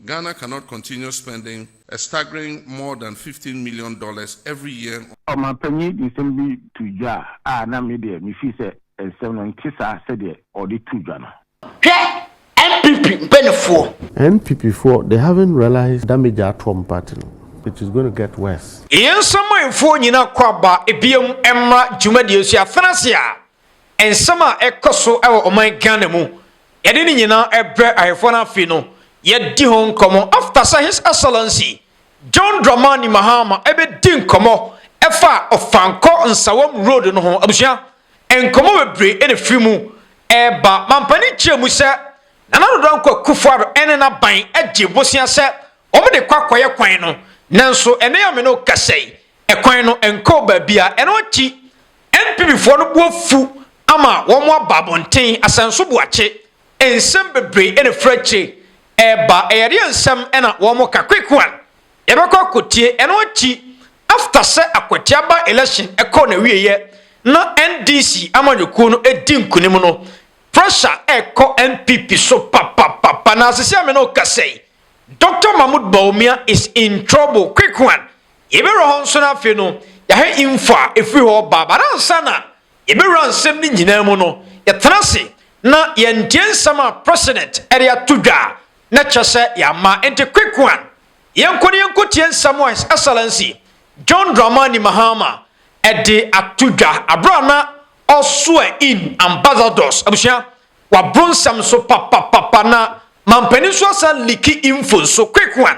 Ghana cannot continue spending a staggering more than fifteen million dollars every year on. Ɔmanpanyin de nsɛm bi too dwa a na me deɛ mefeel sɛ nsɛm no nte saa sɛdeɛ ɔde too dwa no. Hwɛ NPP mpaninfoɔ. NPP foɔ they haven't realised damage a ato wɔn party no, it is going to get worse. Yɛn samanfoɔ nyina kɔ aba biam mmra dwumadie so yɛafena ase a Nsɛm a ɛkɔ so wɔ ɔman Ghana mu, yɛde ne nyinaa brɛ Ahemfo no Afe no, yɛadi ho nkɔmmɔ after sɛ His Excellency John Dramani Mahama bɛdi nkɔmmɔ ɛfa Ofankor Nsawam Road no ho. Abusua, nkɔmmɔ bebree na ɛfiri mu reba. Mampanin kyerɛ mu sɛ Nana Addo Dankwa Kufuor ne n'aban gye bosea sɛ wɔde kɔ akɔyɛ kwan no, nanso ɛnnɛ yi a me ne wo kasa yi, ɛkwan no nkɔɔ baabiara. Ɛno akyi, NPPfoɔ no bo afu ama wɔaba abɔnten, asɛnso boakye, nsɛm bebree na ɛfiri akyire reba. Ɛyɛdeɛ nsɛm na wɔreka, quick one, yɛbɛkɔ akɔtie. Ɛno akyi, after sɛ Akwatia by election kɔɔ n'awieɛ na NDC amanyɔkuo no di nkunim no, pressure rekɔ NPP so papapapa na sisi a me ne wo kasa yi, Doctor Mahmoud Bawumia is in trouble, quick one, Yɛbɛwura hɔ nso na afei no yɛahwɛ info a ɛfiri hɔ ba. But ansa na yɛbɛwura nsɛm no nyinaa mu no, yɛtena ase na yɛntie nsɛm a President de ato dwa na kyerɛ sɛ yɛama. Enti quick one, yɛnkɔ na yɛnkɔtie nsɛm a His Excellency John Dramani Mahama de ato dwa aberɛ a na ɔ swear in ambassadors. Abusua, waboro nsɛm so papapapa na mampanin nso asan leaki info nso. Quick one,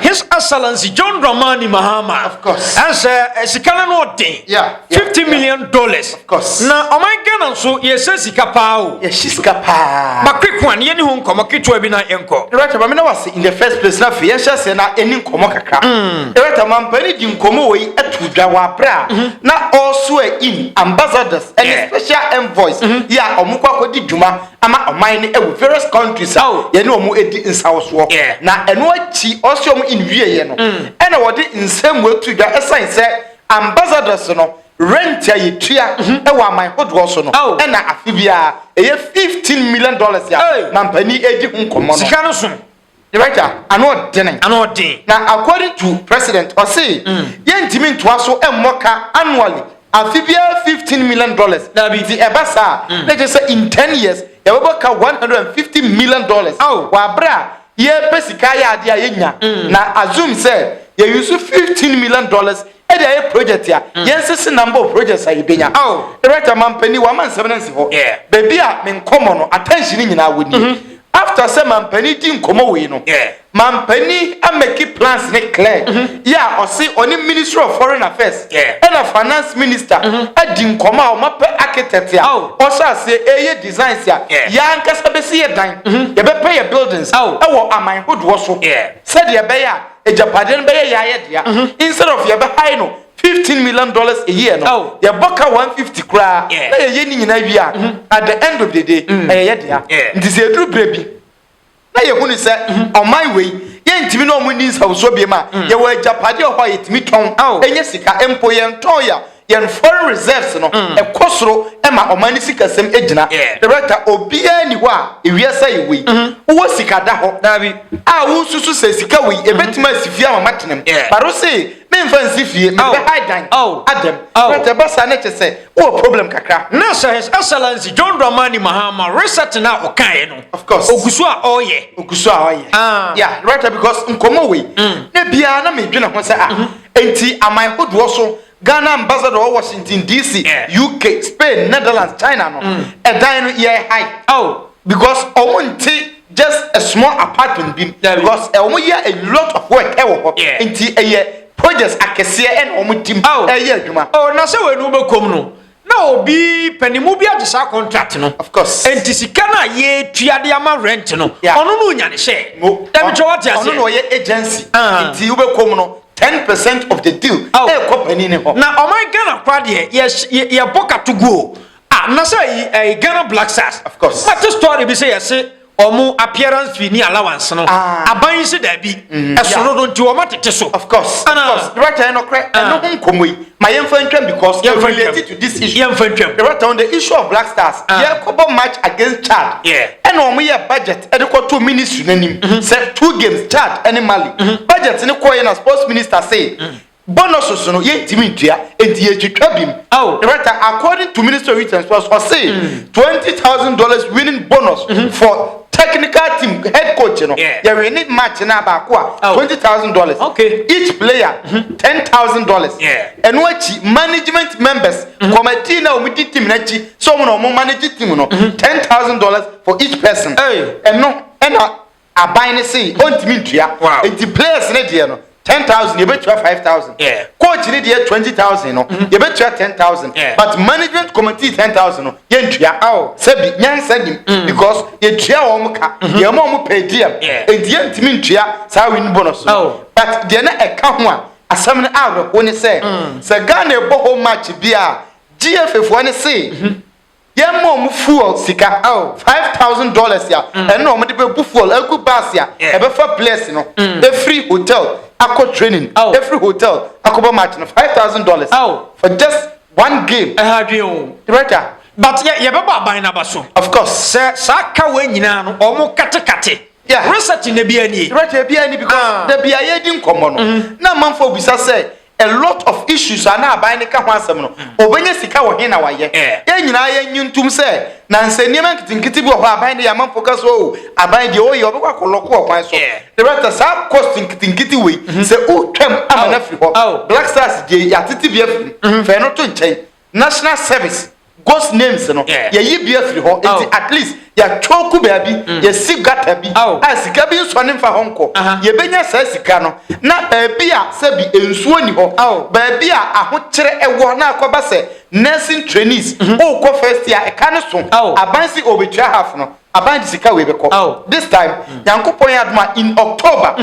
His Excellency John Dramani Mahama. Of course. Ɛsɛ eh, eh, sika no no ɔden. Yeah. Fifty yeah. million dollars. Of course. Na ɔman Ghana nso yɛsɛ sika paa o. Yɛsi sika paa. Ba quick one yɛne ho nkɔmɔ ketewa bi na yɛnkɔ. Director maame na wase in the first place na afei yɛnhyɛ sɛ na ɛni nkɔmɔ kakra. Mm. Director mampani di nkɔmɔ wɔ yi ɛtu dwa wɔ abere a mm-hmm. na ɔso ɛ in ambassadors ɛne special envoys mm-hmm. yɛ a wɔn kɔ akɔdi dwuma ama ɔman no ɛwɔ various countries a oh. yɛne ɔmo ɛdi nsawosoɔ na ɛno akyi ɔse ɔmo nwieɛ no mm. ɛna wɔde nsɛm wɔatu dwa ɛsan sɛ ambassadors no rent a yɛtua mhm. ɛwɔ aman hodoɔ so no oh. ɛna afe biara ɛyɛ 15 million dollars a mampani ɛdi ho nkɔmmɔ no Director ano ɔden. Ano ɔden. Na according to president ɔse yɛn ntumi ntoa so mmɔ ka annually afe biara fifteen million dollars. Dabi. Nti ɛba saa a na ɛkyerɛ sɛ in ten years yɛbɛbɔ ka one hundred and fifty million dollars wɔ abere a yɛpɛ sika ayɛ adeɛ a yɛnya na assume sɛ yɛ use fifteen million dollars Ɛde ayɛ project a yɛn sese nam bɔ projects a yɛbɛnya. Director Mampanin wama nsɛm no nsi hɔ. Baabi a me nkɔmmɔ no attention nyinaa wɔ nie. After sɛ Mampanin di nkɔmmɔ wei no, Mampanin a make plans no clear yɛ a ɔse ɔne Ministry of Foreign Affairs ɛna Finance Minister adi nkɔmmɔ a wɔapɛ architect a ɔhyɛ aseɛ ɛreyɛ designs a yɛn ankasa bɛsi yɛ dan, yɛbɛpɛ yɛ buildings wɔ aman hodoɔ so sɛdeɛ ɛbɛyɛ a. agyapadeɛ no bɛyɛ yɛayɛ dea instead of yɛbɛhae no fifteen million dollars a year no oh. yɛbɔ ka one fifty koraa na yɛyɛ ne nyinaa wie a mm-hmm. at the end of the day mm. ɛyɛ yɛ dea nti sɛ ɛduru berɛ bi na yɛhu ne sɛ mm-hmm. ɔman wei yɛntumi na ɔmo ni nsawusuo biem a mm. yɛwɔ agyapadeɛ hɔ a yɛtumi tɔn ɛnyɛ sika mpo yɛntɔn yɛ a Yɛn foreign reserves no kɔ soro ma ɔman no sikasɛm gyina. Director, Obiara nni hɔ a wiase ayɛ wei. Wowɔ sika da hɔ a wonsusu sɛ sika wei ɛbɛtumi asi fie ama matena mu? But wose memfa nsi fie, mebɛ high dan adam. Director, Ɛba saa na kyerɛ sɛ wowɔ problem kakra. Nurse, His Excellency John Dramani Mahama research no a ɔkaeɛ no, ɔgu so a ɔreyɛ? Ɔgu so a ɔreyɛ. Yeah, Director, because nkɔmmɔ wei na biara na medwene ho sɛ ah, enti aman hodoɔ so Ghana ambassador wɔ Washington DC, UK, Spain, Netherlands, China no, ɛdan no yɛ high. Oh. Because wɔn nte just a small apartment bi mu. Because eh, wɔn yɛ a lot of work ɛwɔ hɔ. Yeah. Nti ɛyɛ projects akɛseɛ ɛna wɔn di mu ɛyɛ adwuma. Oh, na sɛ wɔn ani wɔbɛkɔm no, Na obi pɛ ne mu bi agye saa contract no. Of course. Enti sika no a yɛtua de ama rent no, Yeah. ɔno no nya ne share. Mo, Dabi kyɛ wate ɔno na aseɛ. ɔyɛ agency Ah. nti wobɛkɔ mu no 10 percent of the deal Ao. ɛkɔ panin ne hɔ Na ɔman Ghana koraa deɛ yɛs- yɛ- yɛbɔ katoguo. Ah, na sɛ yi, eh, Ghana Black Stars. Of course. Mate story bi sɛ yɛse Wɔn appearance fee ne allowance no, ah. aban yi se daabi. Mm, Ɛso no no nti wɔn atete so. Of course, of ah. course. Director yɛn nɔkorɛ ah. ɛno ho nkɔmɔ yi ma yɛmfa ntwam because yɛmfa related to this issue. Yɛmfa ntwam. Director on the issue of Black Stars, yɛkɔbɔ match against Chad. Ɛna wɔn yɛ budget ɛde kɔto ministry n'anim. Mm-hmm. Sɛ two games Chad ɛne Mali. Mm-hmm. Budget ne kɔɔ yɛ na sports minister say. Mm-hmm. Bonuses no yɛntumi ntua enti yɛretwitwa bi mu. Oh. Director, according to Ministry of Youth and Sports, ɔse mm. twenty thousand dollars winning bonus mm -hmm. for technical team head coach no yeah. yɛwene match no baako a oh. twenty thousand dollars okay. each player mm -hmm. ten thousand dollars ɛno yeah. akyi management members mm -hmm. committee na wɔn di team no akyi sɛ wɔn na wɔn manage team no mm -hmm. ten thousand dollars for each person ɛno hey. ɛna Aban no se ɔntumi ntua. Enti players no deɛ no ten thousand yɛbɛtua five thousand. Coach no deɛ twenty thousand no mm-hmm. yɛbɛtua ten thousand. But management committee ten thousand no yɛntua. Aw sɛbi nyansa nim mm. because yɛtua wɔn ka mm-hmm. yɛn mu wɔn pɛ diem. Enti yɛntumi ntua saa win bonus no. Oh. But deɛ na ɛka ho a asɛm no awerɛho ne sɛ mm. sɛ Ghana ɛbɔ home match bi a GFA foɔ no se mm-hmm. Yɛn ma wɔn fuel sika oh, five thousand dollars a mm. ɛna wɔn de bɛ bu fuel egu bus a ɛbɛfa players no mm. efiri hotel akɔ training oh. efiri hotel akɔ bɔ match no five thousand dollars oh. for just one game. ɛha dwen o. director. but yɛ yɛ bɛ bɔ aban n'aba so. of course. sɛ saa ka wɔ nyinaa no wɔn katekate. Yeah. research na bi ɛni. director bi ɛni because ah. dabi a yɛ di nkɔmɔ no mm-hmm. na amanfo bisa sɛ. A lot of issues a na aban no ka ho asɛm no, obenya sika wɔ he na wayɛ? Yɛn nyinaa yɛnnye ntom sɛ na nsɛnneɛma nketenkete bi wɔ hɔ a aban de yɛ amanfoɔ ka sɛ oh aban deɛ ɔyɛ ɔbɛkɔ akɔ lɔko wɔ kwan so. Director, saa cost nketenkete wei sɛ wotwam ama no afiri hɔ, Black Stars deɛ yɛatete bi afiri mu, fa ɛno to nkyɛn. national service ghost names no yɛyi bi afiri hɔ nti at least yɛatwɔku baabi yɛsi gata bi a sika bi nsɔ ne mfa hɔ nkɔ yɛbɛnya saa sika no na baabi a sɛbi nsuo ni hɔ baabi a ahokyerɛ ɛwɔ na akɔba sɛ nursing trainees wokɔ first year ɛka no so aban si ɔbɛtua half no aban de sika wei bɛkɔ this time nyankopɔn yɛ adoma in October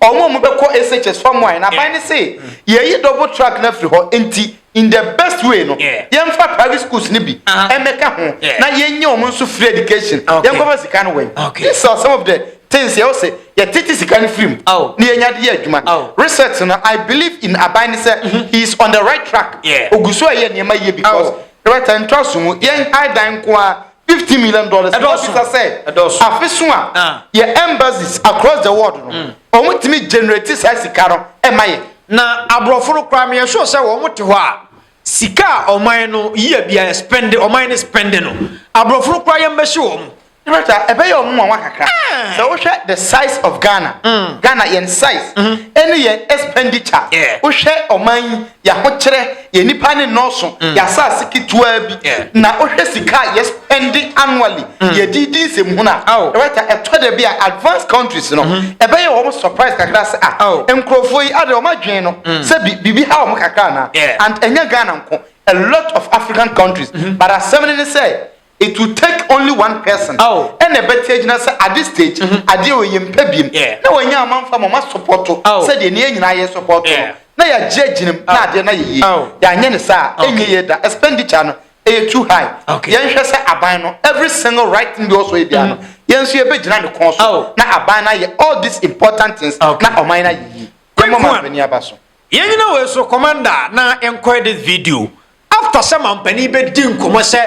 ɔmo ɔmo bɛkɔ SHS fam wine aban ne se yɛyi double track no afiri hɔ nti in the best way no yeah. yɛmfa private schools no bi uh -huh. ɛmɛka ho yeah. na yɛnyɛ wɔn nso free education okay. yɛnkɔfa sika no wɛn okay. these are some of the things yɛwɔ sɛ yɛtete sika no firi mu oh. na yɛnya de yɛ adwuma oh. research no i believe in aban ne sɛ mm-hmm. he is on the right track ogu so a yɛ nneɛma yie because oh. right time ntoa so mu yɛn high dan nko a Fifteen million dollars. Ɛdɔɔso. Ɛdɔɔso sɛ. Ɛdɔɔso. Afeso a. Ah. Yɛ embassies across the world no. Mm. Wɔn tumi generate saa sika no ɛma yɛ. Na aborɔfo no koraa meyɛ sure sɛ wɔn te hɔ a sika a ɔman no yie bia yɛ spend ɔman no spend no aborɔfo no koraa yɛn bɛhyɛ wɔn. Director, ɛbɛyɛ wɔn mu wɔn kakra. Eh. Sɛ wohwɛ the size of Ghana. Mm. Ghana yɛn size. Mm-hmm. Ɛne yɛn expenditure. Yeah. Wohwɛ ɔman yi yɛahokyerɛ. Yɛn nnipa ne nnɔɔso, mm. yɛ asase ketewaa bi na wohwɛ sika a yɛspɛnde annually mm. yɛde di nsɛm hunu a ɛbɛta ɛtɔ da bi a advanced countries no mm-hmm. ɛbɛyɛ wɔn surprise kakra sɛ a ah, nkurɔfoɔ yi ade wɔn adwene no mm. sɛ biribi ha wɔn kakra anaa and ɛnyɛ ghana nko a lot of african countries mm-hmm. but asɛm no ne sɛ It will take only one person ɛna ɛbɛte agyina sɛ ade stage adeɛ wei yɛmpɛ biem na wanya ama mfa ma ɔma sɔpɔto sɛ deɛ ne yɛ nyinaa yɛ sɔpɔto no na yɛagye agyinam na adeɛ na yɛyie yɛanyɛ ne saa ɛnyɛ yie da expenditure no ɛyɛ too high yɛnhwɛ sɛ aban no every single right thing bi wɔ so yɛ bia no yɛn nso yɛbɛgyina ne kɔn so na aban no ayɛ all these important things na ɔman no ayɛ yie yɛmmɔ ma mpani aba so. Yɛn nyina wei so commander a na nkɔɛ this video after sɛ manpanin bɛ di nkɔmɔ sɛ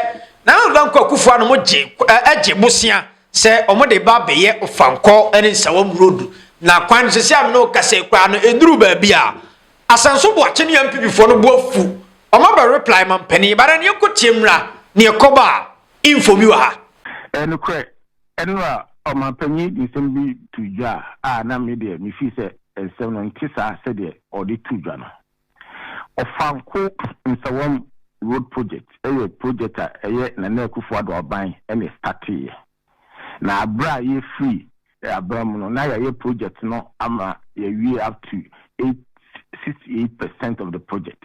Nana Addo Dankwa Akufo Addo mo gye ɛ gye bosea sɛ ɔmo de ba bɛ yɛ Ofankɔ ɛne Nsawam road na kwan no sɛsi a mene wo kasa yi koraa no ɛduru baabi a Asanso Boakye ne NPP foɔ no bo afu ɔmo abɛ reply manpanin but ɛneɛ kɔ tie mmra neɛ kɔ ba a info bi wɔ ha. Ɛyɛ nokorɛ. Ɛnora ɔmanpanyin de nsɛm bi too dwa a na me deɛ mefii sɛ nsɛm no nte saa sɛdeɛ ɔde too dwa no. Ɔfanko Nsawam Road Project yɛ project a ɛyɛ Nana Akufo-Addo aban na ɛstateeɛ. Na berɛ a yɛfiri aban mu no, na yɛayɛ project no ama yɛawie up to eight, sixty eight percent of the project.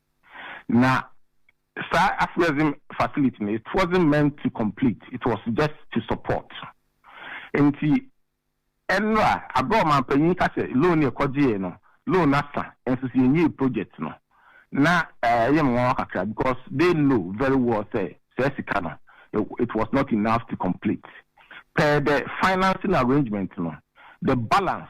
Na saa afuɛdze facility no, it wasn't meant to complete, it was just to support. Ntsi nra, aber a ɔmampanyin ka sɛ loan no yɛkɔgyee no, loan no asa nso so yɛnnyii project no, na ɛyɛ me nwanwa kakra because they know very well sɛ saa sika no, it was not enough to complete. Per the financing arrangement no, the balance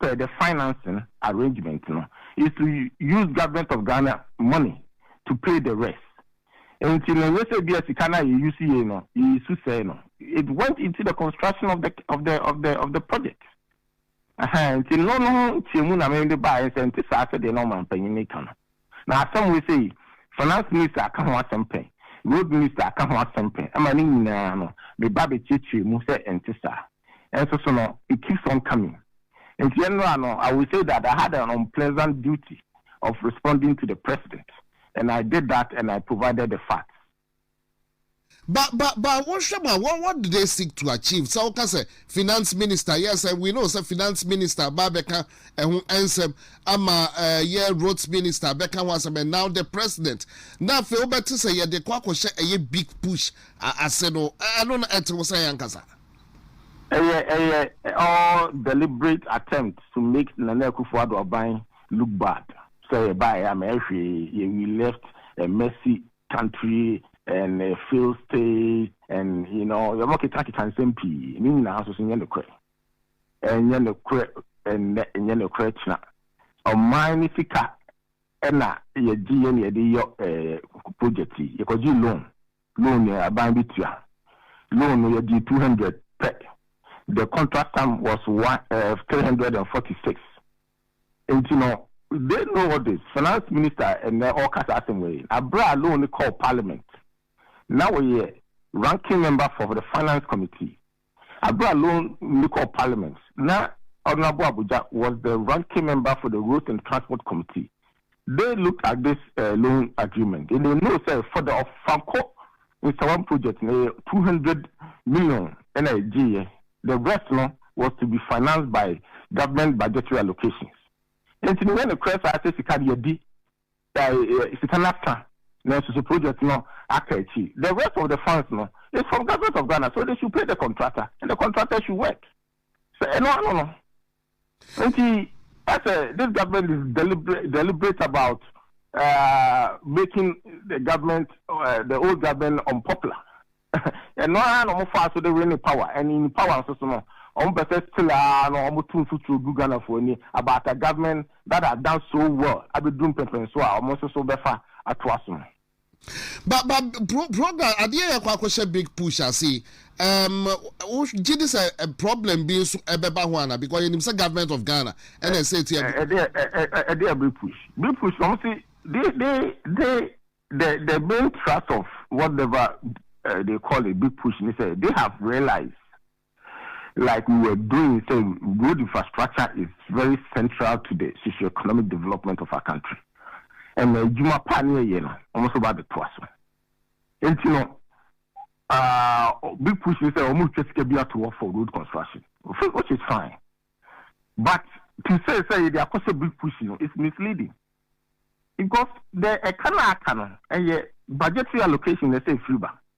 per the financing arrangement no is to use government of Ghana money to pay the rest nti no ɛnyɛ sɛ bia sika no a yɛ use yei no yɛ use sɛe no it went into the construction of the of the of the of the project ɛhɛn nti no no ho ntiamu na mede baeɛ sɛ nte saa sɛdeɛ na ɔmanpanyin no ka no. Na asɛm wei sei, Finance Minister aka ho asɛm pɛ, Road Minister aka ho asɛm pɛ, ɛma ne nyinaa no, me ba bɛkyerɛkyerɛ mu sɛ ɛnte saa. Nso so no, it keeps on coming. Nti ɛnnora no, I will say that I had an unpleasant duty of responding to the President, and I did that and I provided the facts. Ba ba ba wo hwɛ ma what what do they seek to achieve sɛ woka sɛ finance minister yes and we know sɛ finance minister ba bɛka ɛho ɛnsɛm ama uh, yɛ roads minister bɛka ho asɛm and now the president na afei wobɛte sɛ yɛde kɔ akɔhyɛ ɛyɛ big push ase no ɛno na ɛte wo sɛ yɛ ankasa ɛyɛ ɛyɛ all deliberate attempt to make Nana Akufo-Addo aban look bad sɛ yɛbaeɛ a ma ɛhwee yɛ we left a messy country and failed state and you know yɛ ɔmo keka keka nsɛm pii ne nyinaa nso so nyɛ nokorɛ ɛnyɛ nokorɛ ɛnɛ ɛnyɛ nokorɛ kyena ɔman ne sika ɛna yɛ gye yɛ ne yɛ de yɔ ɛɛ project yi yɛ kɔ gye loan loan yɛ aban bi tua loan no yɛ gye two hundred pɛ the contract sum was one ɛɛ eh, three hundred and forty six. Nti no, they know all this, Finance Minister a ɛnnɛ ɔreka saa asɛm wei, na berɛ a loan no kɔɔ Parliament, na ɔyɛ Ranking Member for the Finance Committee. Berɛ a loan no kɔɔ Parliament, na Honourable Abudja was the Ranking Member for the Roads and Transport Committee, They looked at this eh loan agreement and they know sɛ for the Ɔfankɔ Nsawam project no ɛyɛ two hundred million ɛna ɛgyeeɛ, the rest no was to be financed by government budgetary allocations. Ɛnti no yɛ nokorɛ saa sɛ sika no yɛadi eh sika no asa nanso so project no aka akyiri, the rest of the funds no is from government of Ghana so they should pay the contractor and the contractor should work. Sɛ ɛno ano no. Enti, ɛsɛ this government is deliberate deliberate about making the government the old government unpopular ɛno ara na wɔfaa so de winning power and in power nso so no wɔn pɛ sɛ still ara no wɔn to mfuturo gu Ghanafoɔ ani about a government that has done so well abɛduru mpɛmpɛnsoɔ a wɔn nso so bɛfa atoa so no. ba ba pro program adeɛ yɛ kɔ akɔhyɛ big push ase yi um, wogye di sɛ eh, problem bi nso ɛbɛba ho ana because yɛnim sɛ government of ghana ɛna ɛsɛ ɛti ɛbi ɛdeɛ big push big push na ɔmo se they they they the the main thrust of whatever uh, they call it big push ni sɛ they have realized Like we were doing sɛ road infrastructure is very central to the socio-economic development of our country ɛna adwuma pa ne yɛyɛ no wɔn nso ba abɛtoa so nti no uh, big push ne sɛ wɔn retwa sika bi ato hɔ for road construction which is fine but to say sɛ yɛde akɔhyɛ big push no is misleading because the ɛka na aka no ɛyɛ budgetary allocation na ɛsɛ efiri ba.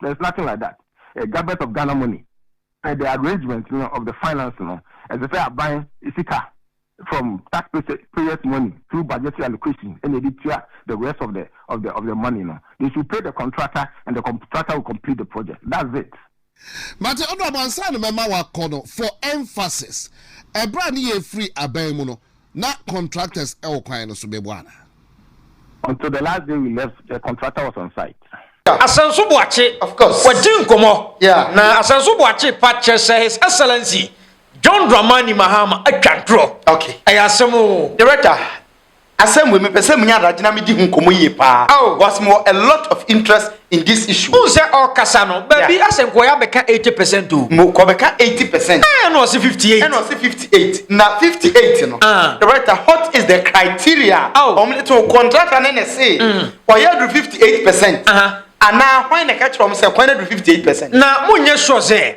There is nothing like that a government of Ghana money pɛ the arrangement no of the finance no ɛsɛ sɛ aban sika from tax payers money through budgetary allocation ɛna ɛde tua the rest of the of the of the money no they should pay the contractor and the contractor will complete the project that's it. Mate ɔdɔ ansa na mɛma wakɔ no for emphasis ɛberɛ a ne yɛ firi abɛn mu no Na contractors wɔ kwan no so bɛbɔ anaa? Until the last day we left, the contractor was on site. Asenso Boakye wɔdi nkɔmmɔ na Asenso Boakye pa kyerɛ sɛ His Excellency John Dramani Mahama atwa ntorɔ. Ɛyɛ asɛm oo. Director, asɛm wei mepɛ sɛ menya adagye na medi ho nkɔmmɔ yie paa because mewɔ a lot of interest in this issue. N sɛ ɔkasa no baabi yeah. asɛ nkɔyɛ abɛka eighty percent o. mo kɔbɛka eighty percent. ɛɛ na ɔsi fifty eight. ɛna ɔsi fifty eight na fifty eight no. Ah. the writer what is the criteria. awo ɔmo de to contractor ne ne se. Mm. ɔyɛ aduru fifty eight percent. anaa hwan na ɛka kyerɛ ɔmo sɛ kwan aduru fifty eight percent. na mo nyɛ sure sɛ.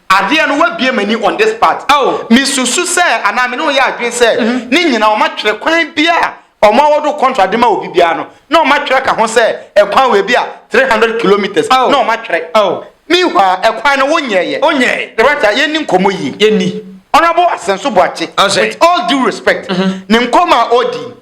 Adeɛ no w'abue m'ani on this part me susu sɛ anaa me ne wo yɛ adwene sɛ ne nyinaa wɔn atwerɛ kwan bi a wɔn awɔdo kɔntra de ma obi biara no na wɔn atwerɛ ka ho sɛ ɛkwan wɔ ebi a three hundred kilometres na wɔn atwerɛ meanwhile ɛkwan no wo nyɛ yɛ the right a yɛn ni nkɔmɔ yie yɛn ni honourable Asenso Boakye with all due respect ne nkɔmɔ a ɔdi.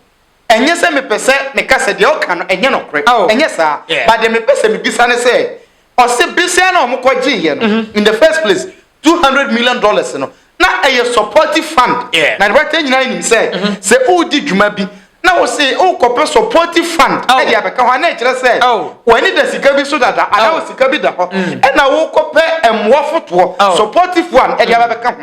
Ɛnyɛ sɛ mepɛ sɛ meka sɛ deɛ ɔka no ɛnyɛ nɔkorɛ, ɛnyɛ saa, but deɛ mepɛ sɛ mebisa ne sɛ, ɔse besia no a wɔkɔ gyeeɛ no in the first place two hundred million dollars no na ɛyɛ supportive fund, na deɛ wate nyinaa nim sɛ sɛ woredi dwuma bi na wose worekɔpɛ supportive fund de abɛka ho a na ɛkyerɛ sɛ w'ani da sika bi so dada anaa wo sika bi da hɔ ɛna worekɔpɛ mmoa fotoɔ, supportive one, de aba bɛka ho,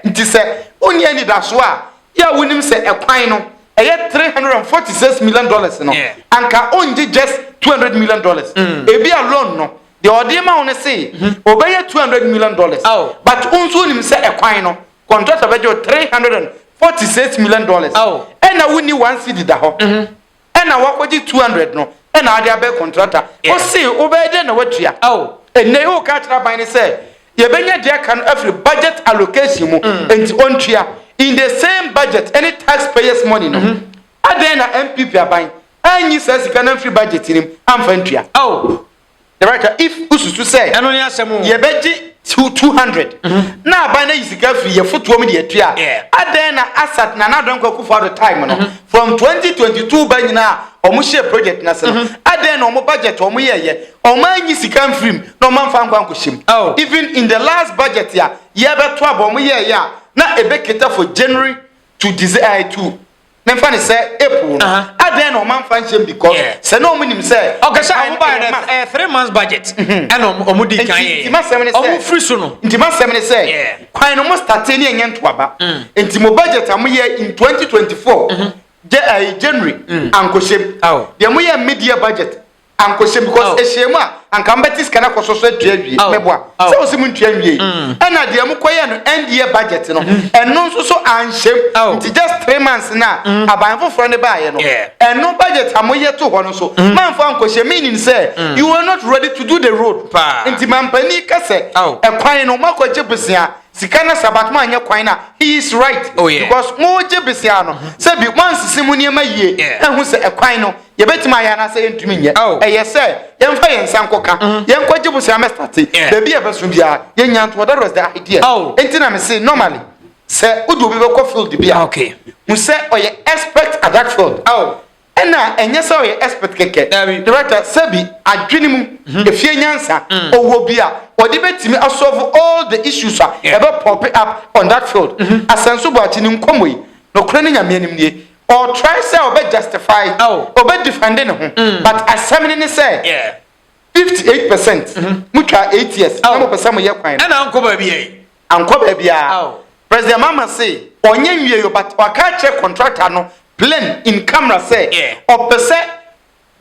nti sɛ wonni anidasoɔ a Yɛ a wonim sɛ ɛkwan no ɛyɛ three hundred and forty six million dollars no, anka ongye just two hundred million dollars. Ebi a loan no, deɛ ɔde ma wo no se obɛyɛ two hundred million dollars, but wo nso wonim sɛ ɛkwan no contractor bɛgye wo three hundred and forty six million dollars, ɛna wonni one cedi da hɔ. ɛna wakɔgye 200 no ɛna ade abɛ kɔntrata ose wobɛyɛ dɛn na watua ɛnɛ yi woka akyerɛ aban no sɛ yɛbɛnya de aka no afiri budget allocation mu nti ɔntua in the same budget ɛne tax payers money no adɛn na NPP aban anyi saa sika no amfiri budget no mu amfa ntua. Director, if wosusu sɛ Ɛno ne asɛm o. yɛbɛgye two two hundred na aban no ayi sika afiri yɛn fotoɔ mu de atua a, Yeah. adɛn na Asat Nana Addo Dankwa Akufo Addo time no from twenty twenty two ba nyinaa a wɔhyɛɛ project no ase no, adɛn na wɔn budget a wɔyɛeɛ wɔanyi sika mfiri mu na wɔamfa ankɔ ankɔhyɛ mu? Oh. Even in the last budget a yɛrebɛto aba wɔyɛeɛ a na ɛbɛcater for January to Dece eh, to memfa ne sɛ april no adɛn na ɔma mfa nhyɛm because sɛ na ɔmo nim sɛ ɔkɛ sɛ ɔmo ba yɛ ɛyɛ three months budget mhm. ɛna ɔmo di kan yɛ ɔmo firi so no nti ma sɛm ne sɛ kwan no mo state ne ɛnyɛ ntoaba mm. nti mo budget a mo yɛ in 2024 mhm. eh, january mm. ankohyɛm deɛ mo yɛ media budget ankɔhyɛ because oh. ɛhyɛɛ mu a anka mbɛte sika no akɔsɔ so atua awie oh. mɛboa oh. sɛ wo se mu ntua nwie mm. ɛna deɛ mokɔyɛ no ɛndeɛ budget no mm-hmm. ɛno nso so anhyɛm oh. nti just three months no a mm. aban foforɔ no baayɛ no ɛno budget a moyɛ to hɔ no so mm. mamfa ankɔhyɛ meaning sɛ you are not ready to do the road nti mampani ka sɛ ɛkwan no moakɔgye bosea sika na sabat mu anyɛ kwan na he is right oh, yeah. because mo gye besia no sɛ bi mo ansisi mo nneɛma yie ɛho sɛ ɛkwan no yɛbɛtumi ayɛ anaasɛ yɛntumi nyɛ oh. ɛyɛ sɛ yɛmfa yɛn nsa nkɔka mm-hmm. yɛnkɔgye bosea mɛstate baabi a ɛbɛso biara yɛnya ntoɔ that was the idea oh. enti na mese normally sɛ wode obi bɛkɔ field bi a ah, hu sɛ ɔyɛ expert at that field oh. ɛna ɛnyɛ sɛ ɔyɛ expert kɛkɛ director sɛbi adwene mu mm-hmm. efie nyansa mm. ɔwɔ bi a ɔde bɛtumi asolve all the issues a ɛbɛ pop up on that field mm-hmm. asɛnso bɔ akyi ne nkɔmmɔ yi nokorɛ ne nyame anim nie Ɔtry sɛ ɔbɛ justify, ɔbɛ defend ne ho but asɛm no ne sɛ fifty eight percent mo twa eight years na mo pɛ sɛ mo yɛ kwan no. Ɛna ankɔ baabiara yi. Ankɔ baabiara. President Mahama se ɔnyɛ nwie yo but waka akyerɛ contractor no plain in camera sɛ ɔpɛ sɛ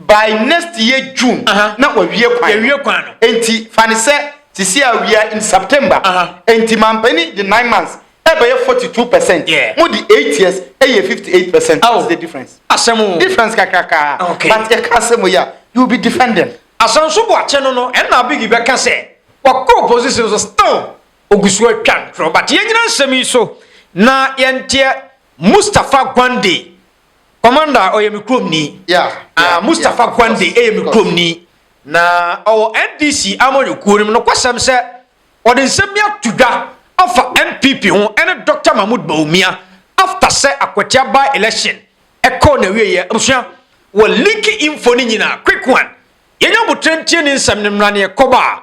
By next year June na wawie kwan no. Yɛawie kwan no. Enti fa no sɛ sisi a awia in September. Enti mampanin de nine months ɛbɛyɛ forty two percent. Yeah. Mo de eight years ɛyɛ fifty eight percent. Aw. What's the difference? Asɛm o. Difference kakrakaa. Okay. But yɛka asɛm wei a, you will be defending. Asanso Boakye no no ɛna Abigui bɛka sɛ wakɔ opposition so still ogu so atwa ntorɔ but yɛnyina nsɛm yi so na yɛnteɛ Mustapha Gwande Commander ɔyɛ me kurom ni. Yeah, Mustapha Kwande yɛ me kurom ni. Na ɔwɔ NDC Amanyɔ kuo no mu. Nokwasɛm sɛ ɔde nsɛm bi ato dwa afa NPP ho ɛne Doctor Mahmoud Bawumia after sɛ Akwatia by election ɛkɔɔ n'awieɛ. Abusua wɔ link info no nyinaa quick one. Yɛnyɛ aboterɛ ntie ne nsɛm no mmra na yɛkɔba.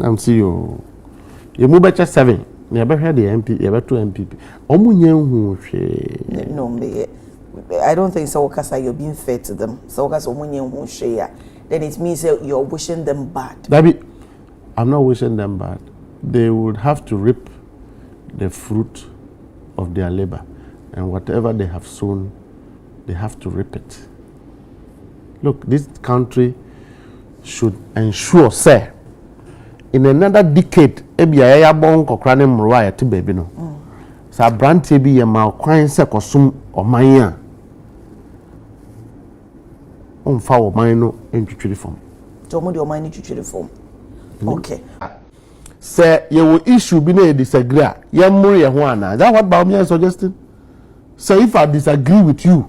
I'm see you. Yɛmu bɛkyɛ seven na yɛbɛhwɛ deɛ MP yɛbɛto MPP. Wɔn nyɛ nhu hwee. No mbɛyɛ. I don't think sɛ wɔkasa you're being fair to them. Sɛ wɔkasa wɔn nyɛ nhu hwee a then it means that you're wishing them bad. Dabi, I'm not wishing them bad. They would have to reap the fruit of their labor and whatever they have sown they have to reap it. look this country should ensure sɛ in another decade ebi a yɛyɛ abɔ nkɔkora ne mmorowa a yɛte baabi no sɛ aberanteɛ bi yɛ ma kwan sɛ kɔsom ɔman a ɔmfa ɔman no ntwitwiri fam. nti wɔn de ɔman no twitwiri fam okay. sɛ yɛwɔ issue bi na yɛ disagree a yɛmmoro yɛ ho anaa is that what Bawumia is suggesting sɛ if I disagree with you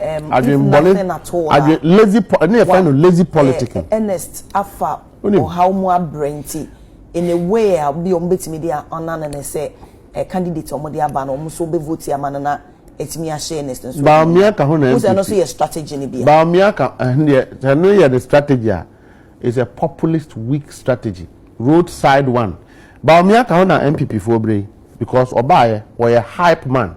um, if nothing at all adwen lazy po ɛne yɛfrɛ no lazy eh, politic eh, earnest afa ɔhaw mu abrɛ nti in a way a bi ɔmo betumi de ɔna no ne sɛ eh, candidate ɔmo de aba no ɔmo so bɛ vote ama no na ɛtumi ahyɛ earnest nso baamia ka ho na npp ɛno nso yɛ strategy no bi baamia ka ɛneɛ ɛno yɛ ne strategy a is a populist weak strategy road side one baamia ka ho na npp foɔ bere because ɔbaayɛ wɔyɛ hype man.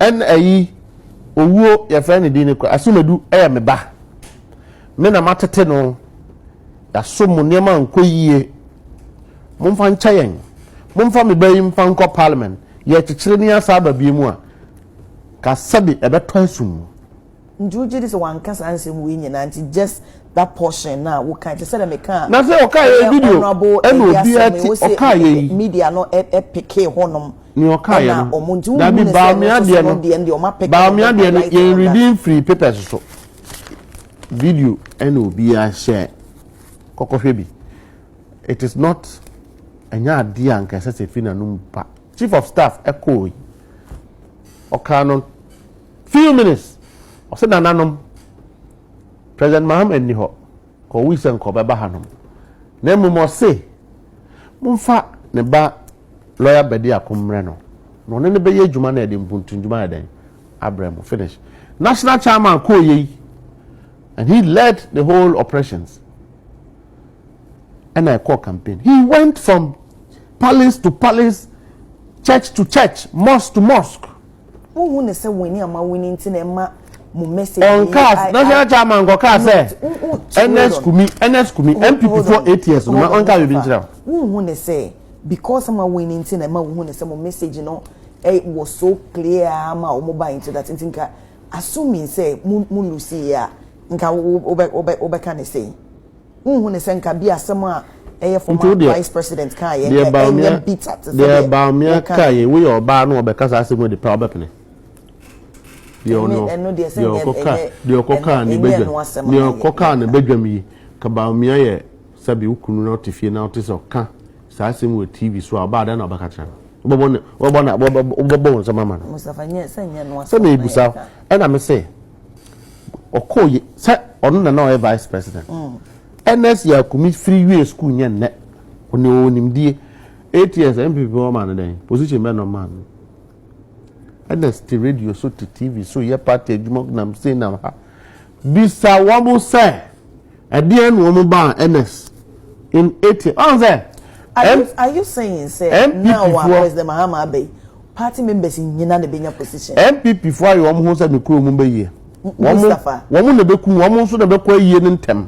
Ɛna ayi owuo yɛfrɛ ne din no kora Asumadu yɛ me ba me na matete no yasom mo nneɛma nkɔ yie momfa nkyɛ yɛn momfa me ba yi mfa nkɔ parliament yɛkyekyere ne asa aba bie mu a ka sɛbi ɛbɛtɔ asum mu Nti wogye di sɛ wanka saa nsɛm wei nyinaa nti just that portion na a woka te sɛ dɛ meka a. Na sɛ ɔka yɛ video ɛna obiara ti ɔka yɛ yi. Media no ɛpeke hɔ nom. Nea ɔka yɛ no dabi baamia deɛ no baamia deɛ no yɛn redi nfiri papers so video ɛna obiara hyɛ kɔkɔ hwɛ bi it is not ɛnyɛ adeɛ a nka ɛsɛ sɛ fi na nom pa chief of staff ɛkɔɔ yi ɔka no. Few minutes, ɔse nananom, President Mahama nni hɔ, ɔwui sɛ nka ɔbɛba hanom, na mmom ɔse momfa ne ba Lawyer Bediako mmrɛ no, na ɔne no bɛyɛ adwuma na yɛde mpuntumdwuma ayɛ dɛn? Abrɛ mo, finish. National Chairman kɔɔ yɛ yi, and he led the whole operations, ɛna ɛkɔɔ campaign. He went from palace to palace, church to church, mosque to mosque. Wonhu ne sɛ wɔn ani ama wini nti na ɛma mo message yi. Ɔnkaas na hyɛn kyɛ ama nkɔkaa sɛ NS kumi NS kumi MPP fo ATS no ma ɔnkaa biribi nkyerɛ o. Wonhu ne sɛ because ama wini nti na ɛma wohu ne sɛ mo message no eh, wɔ so clear ama wɔn ba nti that nti nka assuming sɛ mo mo lose yɛ a nka wobɛka ne sɛ. Wonhu no sɛ nka bi asɛm a ɛyɛ former vice president kaa yɛ nka ɛnyɛ bitter te sɛ deɛ deɛ baamia kaa yɛ woyɛ ɔbaa na ɔbɛka saa asɛm adi paa ɔbɛpene deɛ ɔno deɛ ɔkɔ kaa deɛ ɔkɔ kaa ne badwam deɛ ɔkɔ kaa ne badwam yi ka baamia yɛ sɛbi okunu na ɔte fie na ɔte sɛ ɔka saa asɛm wɔ tv so a ɔbaa dɛn na ɔbɛka kyerɛ no wɔbɔ ne wɔbɔ na wɔbɔ wɔn nsɛm ama no sɛ mebusa ɛna me se ɔkɔɔ yɛ sɛ ɔno na na ɔyɛ vice president ns yakumi firi wie sukuu nyɛ nnɛ ɔne ɔwɔ nimdie eight years npp ɔma no dɛn position bɛ na ɔma no ns te radio so te tv so yɛ party adwuma nam sei nam ha bisa wɔn sɛ Ɛdeɛn na wɔn baa Ernest in ATM ɔn sɛ. Are you are you saying sɛ now a President Mahama aba yi party members nyina na ɛbɛnya position. NPP foɔ ayɛ wɔn ho sɛ me kuro mu bɛ yie. Wɔn wɔn na ɛbɛku wɔn nso na ɛbɛkɔ ayie no ntɛm.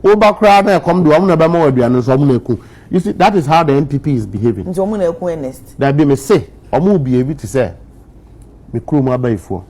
Woba koraa na ɛkɔm de wɔn na ɛbɛma wɔ aduane nso wɔn na ɛku. You see that is how the NPP is behaving. Nti wɔn na ɛku Ernest. Dabi me se wɔn behave te sɛ me kuro mu abayifoɔ.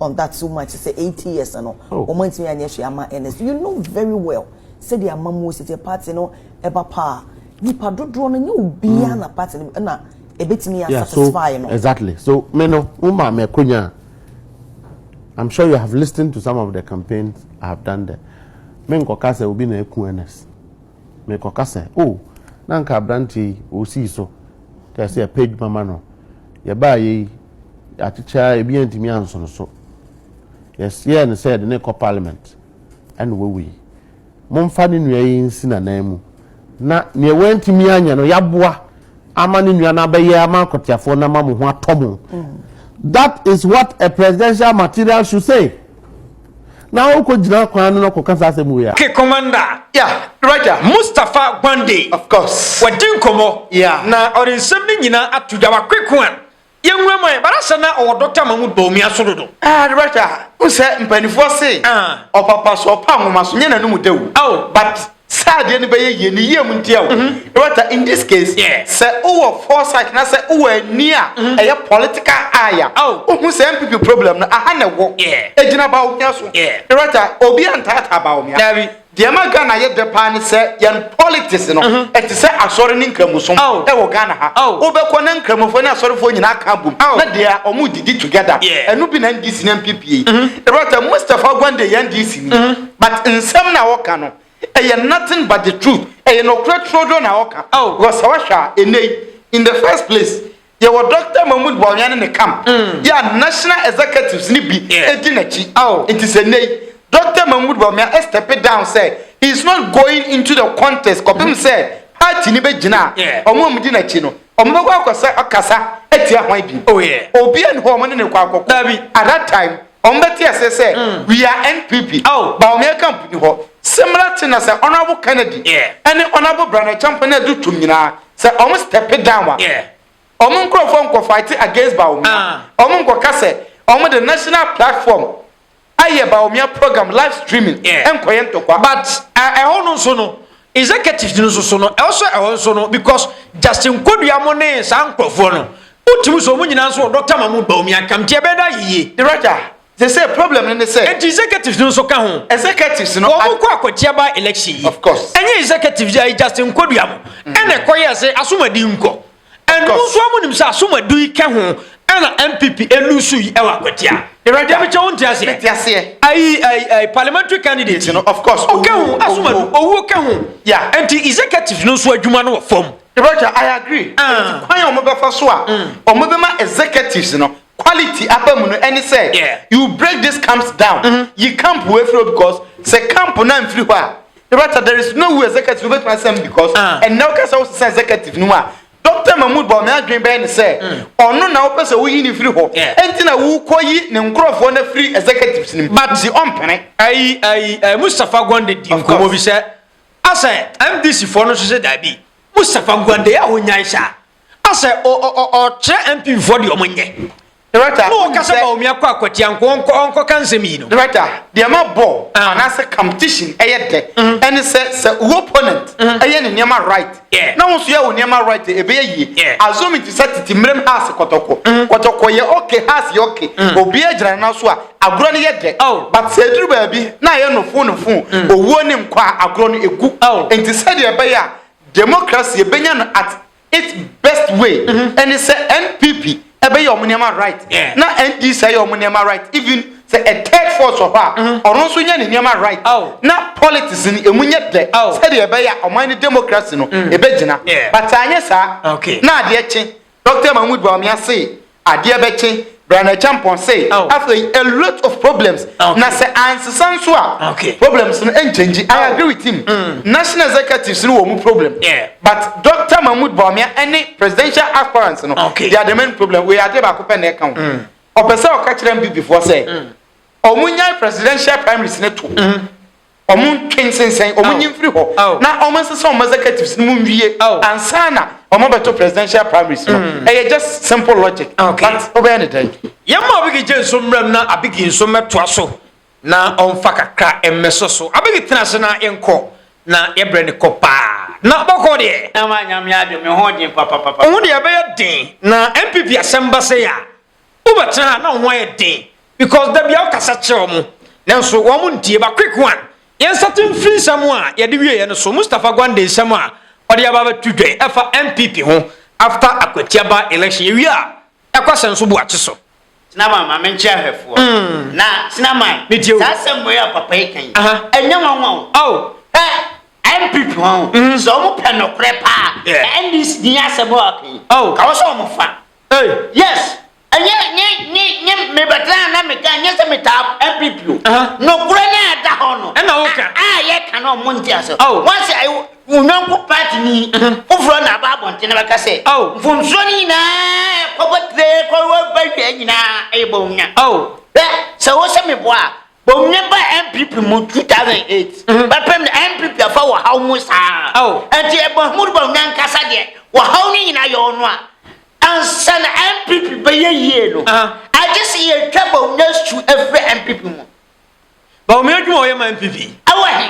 on that so much sɛ eighty years no wɔn antumi anyɛ hwee ama ernest you know very well sɛdeɛ amamuo si teɛ party no ɛba paa nipa dodoɔ no nyɛ obiara na party no ɛna ebetumi yɛ satisfy no. exactly so me no mo maa mi akonya i'm sure you have listened to some of the campaigns i have done there me nkɔka sɛ obi na eku ernest me nkɔka sɛ o oh, na nka aberante yi osi so kɛse ɛpɛ adwuma ma no yɛ baa yɛ yi. Yɛakyekyɛɛ ebi antumi anso no so. Yɛyɛɛ no sɛ yɛde no rekɔ parliament ɛna wawu yi. Momfa ne nua yi nsi n'anan mu na nea wantumi anyɛ no yɛaboa ama ne nua no abɛyɛ ama akɔteafoɔ no ama mo ho atɔ mo. That is what a presidential material should say. Na wokɔ gyina kwan no na kɔka saa asɛm wei a. Okay commander. Yeah, Roger. Mustapha Gwande. Of course. Wadi nkɔmmɔ. Yeah. Na ɔde nsɛm no nyinaa ato dwa. Wakweko a Yɛn wura man ba n'asɛm na ɔwɔ dɔ tama mu dɔ omia so dodo. Ah ade bɛhwɛ a wohu sɛ mpaninfoɔ se ɔpapa so ɔpa nwoma so nyɛ n'anum dɛ o oh but sɛ adeɛ no bɛyɛ yie ne yie mu nti o Roberta in this case sɛ wowɔ foresight na sɛ wowɔ ani a ɛyɛ political eye a wohu sɛ NPP problem no aha na ɛwɔ ɛgyina Bawumia so Roberta obi antaataa Bawumia daabi Deɛ ɛma Ghana yɛ dɛ paa ne sɛ yɛn politics no mhm. ɛte sɛ asɔre ne nkramosom ɛwɔ Ghana ha. Wobɛkɔ na nkramofoɔ ne asɔrefoɔ nyinaa ka abom na deɛ wɔn didi together. Ɛno bi na NDC ne NPP yi. Ɛbɛtɛ mhm. Mustapha Gwande yɛ NDC ni mhm. but nsɛm na ɔka no ɛyɛ nothing but the truth ɛyɛ nɔkorɛ turoduro na ɔka. Wɔsɛ wɔhwɛ a ɛnɛ in the first place Yɛwɔ Dɔkta Mahmoud Bawumia ne ne camp yi a National Executives no bi di n'akyi. Nti sɛ nnɛ yi Dɔkta Mahmoud Bawumia step down sɛ he is not going into the contest kɔpem sɛ party no bɛgyina a, wɔn a wɔdi n'akyi no, wɔbɛkɔ akɔsa akasa atia hwan bio? Obia nni hɔ a wɔne no rekɔ akɔko. At that time, wɔbɛte aseɛ sɛ we are NPP. Bawumia camp nni hɔ. Similar thing na sɛ Honourable Kennedy ne Honourable Brana Acheampong no adu tom nyinaa, Sɛ wɔn step down a, wɔn nkorɔfoɔ nkɔ fight against Bawumia. Wɔn nkɔ ka sɛ wɔn de national platform ayɛ Bawumia program live streaming nkɔ yɛ ntɔkwa. But ɛhɔ no nso no executives no nso so no ɛwɔ sɛ ɛhɔ nso no because Justin Kodua mo ne saa nkorɔfoɔ no wotumi so wɔn nyinaa nso wɔ Doctor Mahmood Bawumia ntam nti ɛbɛyɛ dɛ ayɛ yie. Raja Te sɛ problem no ne sɛ. Enti executives no nso ka ho. Executives no. Wɔn kɔ akɔkyia by election yi. Of course. Ɛnyɛ executives yi a ɛyɛ Justin Kodua no ɛna ɛkɔ yɛɛ sɛ asom adi nkɔ. And mo nso a mo nim sɛ asom adu yi kɛ ho ɛna NPP elusu yi ɛwɔ akwatia. Deɛ mekyɛ wo nte aseɛ. Mete aseɛ. Ayi ayi ayi parliamentary candidate. Nti no of course. Ɔkɛ ho asom adu owuo kɛ ho. Yeah. Enti executives no nso adwuma no wɔ fam. Roger I agree. Enti kwan a wɔn bɛfa so a wɔn bɛma executives no Quality aba mu no ɛne sɛ you break this camps down, yi camp wei firi hɔ because sɛ camp no amfiri hɔ a Rabata there is no way executive no bɛtumi asesa mu because ɛnnɛ wo ka sɛ wo sesa executive no mu a Doctor Mahmood bɔ me adwene bɛyɛ ne sɛ ɔno na wo pɛ sɛ wo yi ne firi hɔ ɛnti na wo kɔ yi ne nkorɔfoɔ no firi executives no mu but ɔn mpene. Ayi ayi ayi Mustapha Gwande di nkɔmmɔ bi sɛ asɛ MDC foɔ no nso sɛ daabi Mustapha Gwande yɛ a wo nyae saa. Asɛ ɔkyerɛ MP foɔ deɛ ɔmo nyɛ. Director, no ɔka sɛ Bawumia kɔ akwatia nko ɔnkɔ ɔnkɔ ka nsɛm yi no. Director, deɛ ma bɔ ah. anaasɛ competition ɛyɛ dɛ mm. ɛne sɛ sɛ wo opponent mm. ɛyɛ ne nneɛma right yeah. na wo nso yɛ wo nneɛma right a ɛbɛyɛ yie yeah. assume te sɛ tete mmerɛm house kɔtɔkɔ mm. kɔtɔkɔ yɛ okay house yɛ okay mm. obiara gyina no so a agorɔ no yɛ dɛ oh. but sɛ ɛduru baabi na ɛyɛ nofo nofo mm. owuo ne nkɔ a agorɔ no ɛgu oh. nti sɛdeɛ ɛbɛyɛ a Democracy yɛbɛnya no at it best way ɛne sɛ NPP ɛbɛyɛ ɔmo nneɛma right na NDC ayɛ ɔmo nneɛma right even sɛ a third force wɔ hɔ a ɔno nso nyɛ ne nneɛma right na politics no emu nyɛ dɛ sɛdeɛ ɛbɛyɛ a ɔman no democracy no ɛbɛgyina but anyɛ saa na adeɛ kye Doctor Mahmood Bawumia se adeɛ bɛkye, Brana Acheampong se afei a lot of problems na sɛ ansesa nso a problems no ɛnchange. I agree with him. Mm. National executives no wɔ mu problem. Yeah. But Doctor Mahmood Bawumia ɛne presidential aspirants no okay. they are the main problem. Wei adeɛ baako pɛ na ɛka ho. Mm. Ɔpɛ sɛ ɔka kyerɛ mbibifoɔ sɛ mm. ɔmo nyae presidential primaries ne to. Mm. wɔntwe nsensɛn, wɔnyi mfiri hɔ, na wɔnsesa wɔn executives no mu nwie ansa na wɔabɛto presidential primaries no. Mm. Ɛyɛ just simple logic. Ah, okay. But wobɛyɛ ne dɛn? Yɛma Abigi gye nso mmerɛm na Abigi nso mmɛtoa so na ɔmfa kakra mmɛsɔ so. Abigi tena ase na yɛnkɔ na yɛbrɛ ne kɔ paa. Na bɔkɔ deɛ. Na ma nyame adwe me ho den papapapa. Wo deɛ ɛbɛyɛ den na MPP asɛm ba sɛ ya. Wobɛtena ha na wo ho ayɛ den because da bia wokasa kyerɛ wɔn nanso wɔn ntie ba quick one yɛnsate mfiri nsɛm a yɛde wieɛ no so Mustapha Gwande nsɛm a ɔde aba bɛto dwa yi ɛfa NPP ho after Akwatia by election yɛwie a yɛakɔ asɛm so Boakye so. Tenaman ma menkyerɛ ahwɛfoɔ na Tenaman Metie o. saa asɛm wei a papa yi ka yi Aha. ɛnyɛ nwanwa o Oh. hwɛ NPP wɔn sɛ wɔn pɛ nokorɛ paa Yeah. NDC ni asɛm a ɔka yi Oh. ka wɔn sɛ wɔn fa Ei yes ɛnyɛ nye nye nye mebɛtena a na meka ɛnyɛ sɛ metaa npp o Aha. nokorɛ no a ɛda hɔ no Ɛna woka. a a yɛka no ɔmo nte ase Ao. once a wo wo yɔnko party ni foforɔ na aba abɔnten na bɛka sɛ Ao. mfomsoɔ no nyinaa ɛkɔbɔ tire kɔwɔ ba wie nyinaa ɛyɛ bɔnwunya Ao. hwɛ sɛ wo sɛ meboa a Bom ne ba NPP mu 2008 mhm. bɛpem na NPP afa wɔ haw mu saa nti Mahmoud Bom ne ankasa deɛ wɔ haw no nyinaa yɛ ɔno a ansa na NPP bɛyɛ yie no agye sɛ yɛtwa Bom ne su afiri NPP mu Bom adwuma ɔyɛ ma NPP ɛwɔ he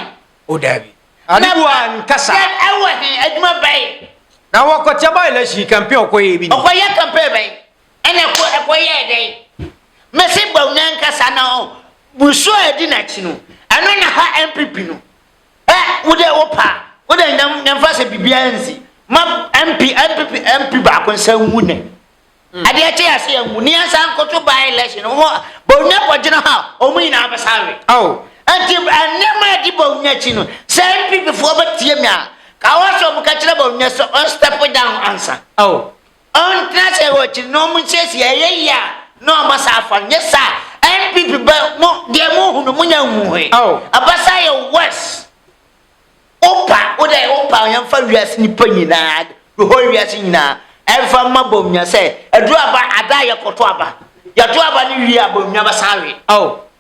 o daabi adewa nkasa ɛwɔ he adwuma bɛn na wɔkɔkyɛ ba election campaign ɔkɔyɛ bi ɔkɔyɛ campaign bɛn Ɛna ɛkɔ ɛkɔ yɛɛ dɛn? Mese bɔn nankasa na ɔn busu a ɛdi nakyi no ɛno na ha NPP no ɛ wode wo pa wode nyam nyamfa sɛ bibiaa nsi ma MP NPP MP baako nsa ngu nɛ adeɛ kye ase yɛ ngu nea nsa nkoto by election ɔmo bɔn nya kɔ gyina ha ɔmo nyinaa bɛsa awe awo ɛnti ɛnɛma ɛdi bɔn nya kyi no sɛ NPP foɔ bɛtie mi a ka wɔsɛ ɔmo ka kyerɛ bɔn nya sɛ ɔn step down ansa awo Ɔntena ase wɔ akyiri na ɔmo nsiesie ɛyɛ yie a na ɔmo asan afa no nyɛ saa a NPP bɛ mo deɛ mo hu no mo nya nhu he oh. Abasa yɛ worse wo pa wo dɛ wo pa yɛn fa wiase nipa nyinaa the whole wiase nyinaa ɛnfa mma bom nya sɛ aduru aba ada yɛ kɔto aba yɛto aba ne wie a bom nya bɛsan we oh.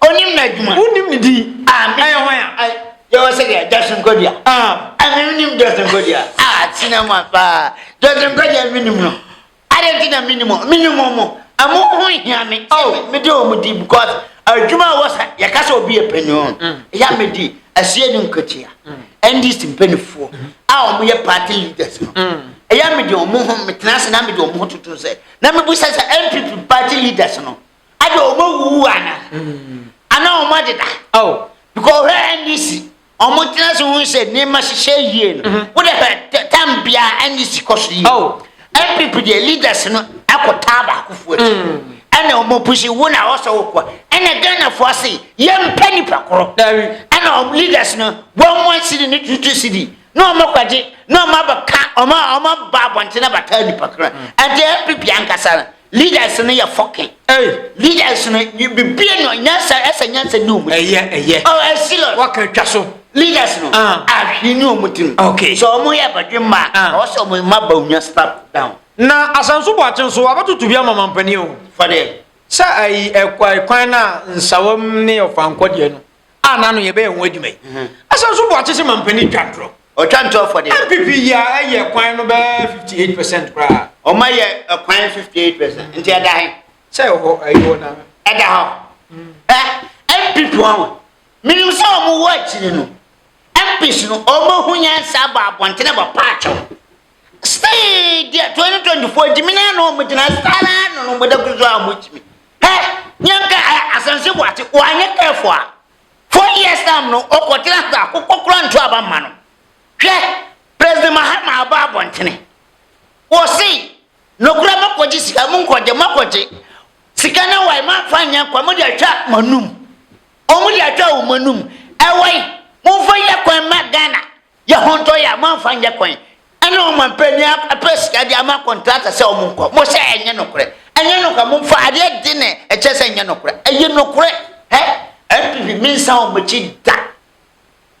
Onim n'adwuma. Wonim ne din. Amen. Ɛyɛ hwan a? Ai, yɛwɔ sɛ deɛ Justin Nkodia. Ah. Ɛna menim Justin Nkodia. Ah, tena mu paa. Justin Nkodia menim no. Adɛn nti na menim ɔ? Menim ɔmo. Ɛmo ho hia me. Oh. Mede ɔmo di because adwuma a ɛwɔ sɛ yɛka sɛ obi yɛ panyin o. Mm. Ɛyɛ a medi asie ne nkotia. NDC mm. mpanimfoɔ mm-hmm. a ɔmo yɛ party leaders no. Mm. Ɛyɛ a mede ɔmo ho metena ase na mede ɔmo ho toto sɛ na mebu sɛ sɛ NPP party leaders no Ada wɔn awuwu ana? Ana wɔn adeda? Because ɔhwɛ NDC, wɔn tena so ho sɛ nneɛma hyehyɛ yie no. Mm-hmm. Wode hwɛ tam biara NDC kɔ so yie. NPP oh. deɛ leaders no akɔ taa baakofoɔ akyi. Mm. Ɛna wɔn pusi wo na wɔsɔ wo kɔ. Ɛna Ghanafoɔ ase yɛmpɛ nipa korɔ. Ɛna wɔn leaders no wɔn wɔn sidi ne tutu sidi. na ɔmo kɔgye na ɔmo abɛka ɔmo a ɔmo aba abɔnten abɛtaa nipa koro ɛnti npp ankasa no leaders no yɛ fɔkin Ei, leaders no bibie no nyansa ɛsɛ nyansa ni ɔmo ɛyɛ, ɛyɛ, ɔ ɛsi lɔ waka twa so. leaders no Ah. ahwi ni ɔmo tirim Ok. sɛ ɔmo yɛ abadwe mma a Ah. ɔwɔ sɛ ɔmo mma ba onya stop down Na Asanso Boakye nso, wabɛtoto bi ama mampanin o. fɔdeɛ Sɛ ayi ɛkwa kwan no a nsawam ne ɔfankɔ deɛ no. a n'ano yɛ bɛyɛ ho adwuma yi ɛsɛ nso boakye sɛ mampanin twa ntorɔ ɔtwa ntorɔ fɔdeɛ npp yi a ɛyɛ kwan no bɛɛ 58 percent koraa ɔma yɛ kwan 58 percent nti ɛda he sɛ ɛwɔ ɛyɛ na ɛda hɔ npp ɔho menim sɛ ɔmo wɔ akyiri no mpis no ɔmo ho nyansa bɔ abɔntene bɔ paakyɛw Sei deɛ 2024 gyimi naa na ɔmo gyina saa naa na ɔmo da kusu a ɔmo gyimi hɛ nyɛ nka ɛ asɛnse boate wanyɛ kɛɛfo a four years time no ɔkɔ tena ase akokɔ kora nto aba mma no hwɛ president mahama aba abɔntene wɔse nokora makɔgye sika mo nkɔgye makɔgye sika na wae mafa nyɛ nkwa mo de atwa manum ɔmo de atwa ɔmo anum ɛwɔi momfa yɛ kwan ma Ghana Yɛ ho ntɔ yɛ a moamfa nyɛ kwan ɛne ɔmanpanyin apɛ sika de ama kɔntrata sɛ ɔmo nkɔ mo sɛ ɛnyɛ nokorɛ ɛnyɛ nokorɛ momfa adeɛ de ne ɛkyɛ sɛ ɛnyɛ nokorɛ ɛyɛ nokorɛ hɛ NPP mensa ɔmo akyi da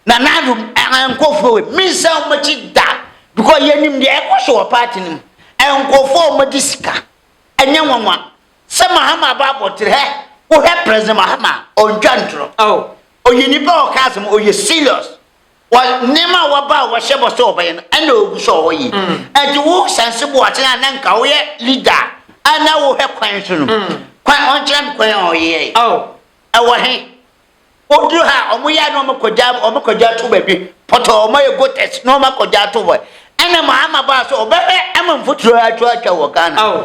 Nana Addo ɛnkɔfoɔ wei mensa ɔmo akyi da because yɛnim deɛ ɛkɔ so wɔ party no mu ɛnkɔfoɔ ɔmo de sika ɛnyɛ nwanwa sɛ Mahama aba abɔtere hɛ wohɛ President Mahama ɔntwa ntorɔ oh. ɔyɛ nipa ɔka asɛm ɔyɛ serious wɔ nneɛma a wɔba a wɔhyɛ bɔ sɛ wɔbɛyɛ no ɛna ogu so a ɔyɛ ɛnti wo sanse bo aten a na nka woyɛ leader a na wohwɛ kwan so no kwan ɔnkyerɛ me kwan a ɔyɛ ɛwɔ he woduru ha a wɔyɛ a na wɔkɔgya wɔkɔgya to baabi pɔtɔ wɔyɛ gotɛs na wɔakɔgya to hɔ ɛna ma ama baa so ɔbɛhwɛ ama mfuturo atwa atwa wɔ Ghana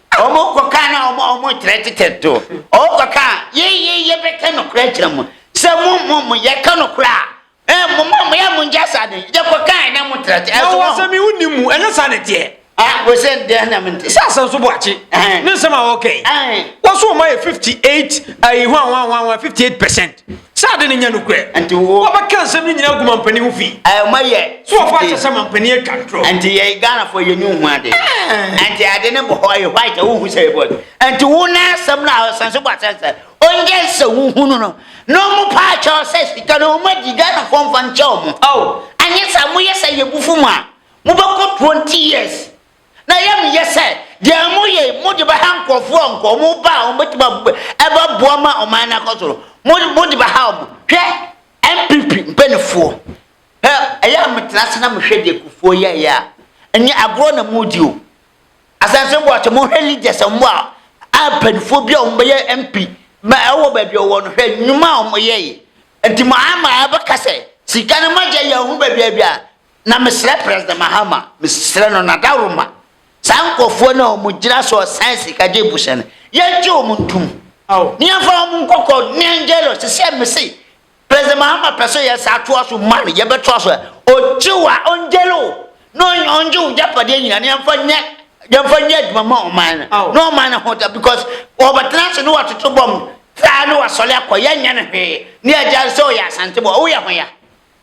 Ɔmo kɔ kaa na ɔmo ɔmo kyerɛ tetɛ to. Ɔmo kɔ kaa yɛ yɛ yɛ bɛ kɛ no korɛ kyerɛ mo. Sɛ mo mo mo yɛ kɛ no korɛ a. Ɛ mo mo mo yɛ mo nkyɛ sa de. Yɛ kɔ kaa na mo trɛ te. Ɛ so mo. Na wɔsɛ mi wo ni mu. Ɛnyɛ sa ne teɛ. Ɛ wɔsɛ n deɛ na mo nte. Sɛ asɛ nso bo akye. Ɛhɛn. Ne nsɛm a ɔkɛ yi. Ɛhɛn. Wɔsɛ ɔmo ayɛ 58 ayi hwan hwan hwan hwan 58 percent. Sɛ ade no nyɛ nokorɛ. Nti wo. Wɔbɛka nsɛm no nyinaa agu mampanin ho fi. Ɛɛ ɔma yɛ. So wɔfa akyɛ sɛ mampanin atwa ntorɔ. Nti yɛ Ghanafoɔ yɛ ni nhu ade. Ɛɛ. Nti ade no bɔ hɔ ɛyɛ white a wohu sɛ ɛbɔ. Nti wo na asɛm no a ɔsan so bɔ asɛm sɛ ɔnyɛ sɛ wohunu no na ɔmo pa akyɛ ɔsɛ sika no ɔmo agyi Ghanafoɔ nfa nkyɛ ɔmo. Ao. Anyɛ saa moyɛ saa yɛbufu mo a mobɛkɔ 20 years. Na yam yɛ sɛ deɛ moyɛ yi mode bɛha nkorɔfoɔ a nka wɔn ba a wɔbɛtumi ab ɛbɛboa ma ɔman no akɔ so no mo mode bɛha wɔn. Hwɛ NPP mpaninfoɔ hɛ ɛyɛ a metena ase na mehwɛ deɛ Kufuor yɛeɛ a ɛnyɛ agorɔ na modi o. Asante Boakye mohwɛ leaders a wɔn a a mpaninfoɔ bi a wɔn bɛyɛ MP ma ɛwɔ baabi a wɔwɔ no hwɛ nnwuma a wɔn yɛeɛ. Nti mo ama ɛbɛka sɛ sika no moagya yi yɛn ho baabi a bi a Na mesrɛ President Mahama, mesrɛ no n'adaworoma, saa nkorɔfoɔ no a wɔn gyina so ɔsan sika gye busa no, yɛngye wɔn ntum. Na yɛmfa wɔn nkɔkɔ Nianjelo sesɛ mese President Mahama pɛ sɛ yɛ saa toa so ma no, yɛbɛtoa so, ɔgye wo a ɔnjele wo, na ɔngye wo gyapadeɛ nyina na yɛmfa nyɛ yɛmfa nyɛ adwuma ma ɔman no, na ɔman no ho da because ɔbɛtena ase na watoto bɔm saa na wasɔre akɔ, yɛnyɛ no hwee, na yɛgya no sɛ ɔyɛ Asantebɔ, woyɛ ho ya.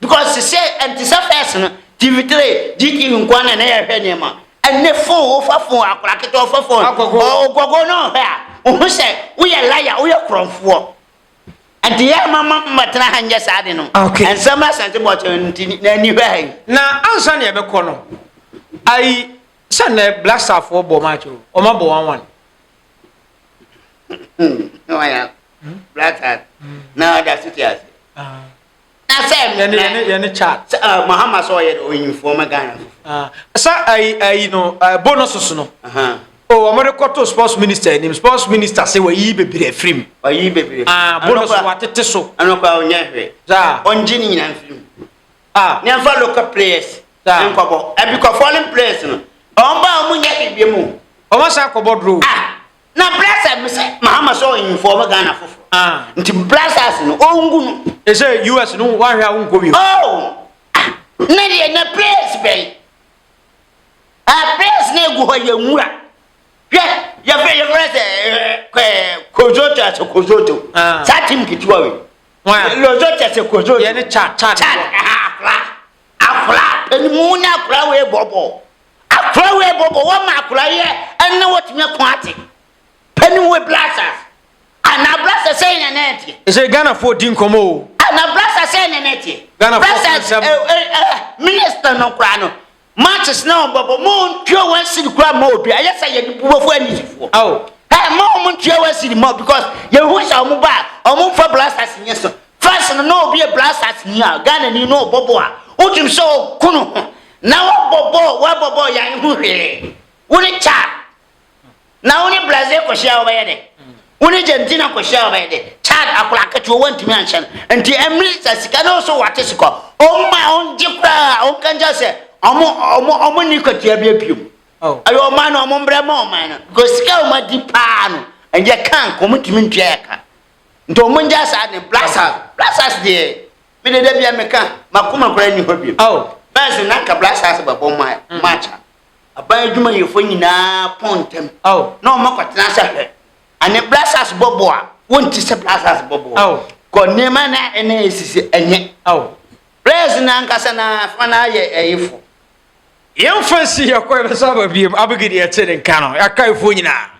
Because sesei ɛnte sɛ first no, TV three, GTV nko ara na na yɛhwɛ nneɛma. Ɛnnɛ phone, wofa phone, akwadaa ketewa ɔfa phone, Agogo. ɔ- ogogo na ɔhwɛ a, wohu sɛ woyɛ liar, woyɛ korɔmfoɔ. Ɛnti yɛn ma ma mmɛtena ha nyɛ saa ade no. Okay. Ɛnsɛ mmra Asante Bɔkyerɛ no nti na ani hwɛ ha yi. Na ansa na yɛbɛkɔ no, ayi sɛ nnɛ Black Starfoɔ bɔ match o, wɔabɔ one one. Hmm, na wayɛ a- Black Stars, na ɔda so te ase. sɛ yɛne yɛne yɛne kya sɛ ɛɛ eh, mahama sɛ ɔyɛ ɔyinfoɔ ma ghana fo ah, sɛ ayi ayi no ɛɛ eh, bonuses no o oh, wɔn de kɔto sports minister anim sports minister sɛ wɔyi bebree afiri mu ɔyi bebree ah bonus wɔatete so ɛnokora ɔnyɛ hwɛ saa ɔngye ne nyinaa mfiri mu ah ne nfa local players saa nkɔbɔ ɛbi kɔ foreign players no wɔn ba wɔn nyɛ biribi mu wɔn asan akɔbɔ duro ah na blasters no sɛ mahama sɛ ɔinfɔɔm ghana foforo ah. nti blasters no ɔngu no ɛsɛ us no woahwɛ a wonkɔ bi oh. ah. na deɛ na place bɛn ah, place na ɛgu hɔ yɛ nwura hwɛ yɛfrɛ yɛfrɛ sɛ eh, eh, kozoto asɛ kozoto saa tim ketewa wei lozoto asɛ kozoto yɛne chat chat chat Akora ɛni mu ne akora wei bɔbɔ akora wei bɔbɔ wɔ ma akora yɛ ɛnna wɔ tumi ɛko ate pɛni wɔ blasas ana blasas sɛ ɛnna ɛnna ɛteɛ. Ɛsɛ Ghana fo di nkɔmɔ o. Ana blasas sɛ ɛnna ɛnna ɛteɛ. Ghana fo sɛ sɛm. Minister no kora no matches na wɔn bɔbɔ mo ntua wɔn siri kora ma obi ayɛ sɛ yɛ nipuwa fo ɛni fo. Awo. Ɛ mo wɔn ntua wɔn siri ma because yɛ hu sɛ wɔn ba wɔn nfa blasas nyɛ so First no na obi a Black Stars ni a Ghana ni na ɔbɔ bɔ a wotum sɛ ɔko no ho na wabɔ bɔ wabɔ bɔ yɛn ho hwee wo ne Chad na wo ne Brazil kɔhyia wɔbɛyɛ dɛ wo ne Argentina kɔhyia wɔbɛyɛ dɛ Chad akora aketewa wantumi anhyɛ no nti ɛmiri sɛ sika no so wate sika ɔmo ma ɔngye koraa ɔmo kan kyɛ sɛ ɔmo ɔmo ɔmo ni kwatua bi abiom ɛyɛ ɔman no ɔmo mbrɛ ma ɔman no because sika ɔmo adi paa no ɛyɛ kan kɔmo ntumi ntua yɛ kan. Nti ɔmo ngyae saa ade no blasters blasters deɛ me de da bia meka makoma koraa ni hɔ bio oh. bɛs na nka blasters bɛbɔ ɔmo ayɛ ɔmo akyɛ aban adwumayɛfoɔ nyinaa pɔn ntɛm oh. na ɔmo akɔtena sɛ hwɛ ane blasters bɔbɔ a wonti sɛ blasters bɔbɔ oh. kɔ nneɛma na ɛna ɛsisi ɛnyɛ oh. blasters na ankasa na fa na ayɛ ɛyefo yɛmfa nsi yɛkɔ ɛbɛsɛ aba biem abɛgidi ɛte ne nka no yɛakaefoɔ nyinaa